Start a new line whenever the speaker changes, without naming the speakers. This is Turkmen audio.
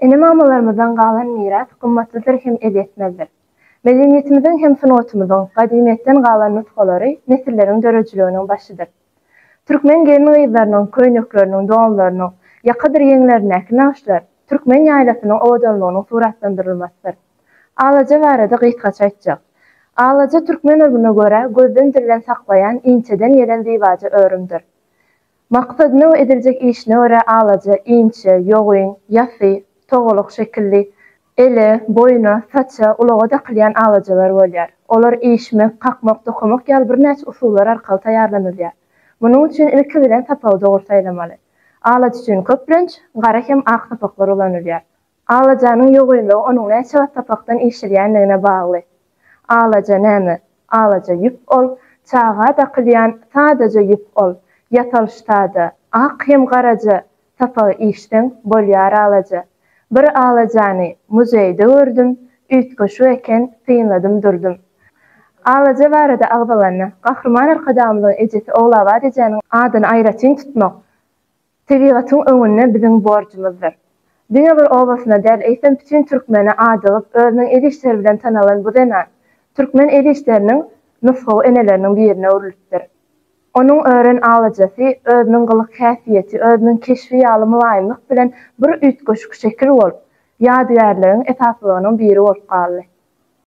Ene-mamalarymyzdan galan miras gymmatlydyr hem elýetmezdir. Medeniýetimiziň hem sungatymyzyň gadymyýetden galan nusgalary nesilleriň döredijiliginiň başydyr. Türkmen gelin-gyzlarynyň köýnekleriniň, donlarynyň ýakadyr ýeňlerindäki nagyşlar türkmen ýaýlasynyň owadanlygynyň suratlandyrylmasydyr. Alaja barada gysgaça aýtjak. Alaja türkmen ylmyna görä gözden-dilden saklaýan inçeden gelen zybaja örümdir. Maksadyna we ediljek işine görä alaja, inçe, ýogyn, ýasy, togalak şekilli, ele, boýna, saça, ulaga dakylýan alajalar bolýar. Olar işmek, kakmak, dokamak ýaly birnäçe usullar arkaly taýýarlanylýar. Munuň üçin ilki bilen sapagy dogry saýlamaly. Alaç üçin köplenç, gara hem ak sapaklar ulanylýar. Alajanyň ýogaýmagy onuň näçe wagt sapakdan işirýändigine bagly. Alaja näme? Alaja ýüp ol, çaga dakylýan sadaja ýüp ol, ýasalyş sada, ak hem garaja, sapagy işseň, bolýar alaja. Bir alajany muzeýde gördüm, üýtgeşik eken, synladym durdum. Alaja barada agzalanda, Gahryman Arkadagymyzyň ejesi Ogulabat ejäniň adyny aýratyn tutmak, Tebigatyň öňünde biziň borjumyzdyr. Diňe bir obasyna däl, eýsem bütin türkmene adygyp, özüniň el işleri bilen tanalan bu zenan, türkmen el işleriniň nusgawy eneleriniň birine öwrülipdir. Onuň ören alajasy, özüniň gylyk-häsiýeti, özüniň keşbi ýaly mylaýymlyk bilen bir üýtgeşik şekil bolup, ýadygärligiň esaslylarynyň biri bolup galdy.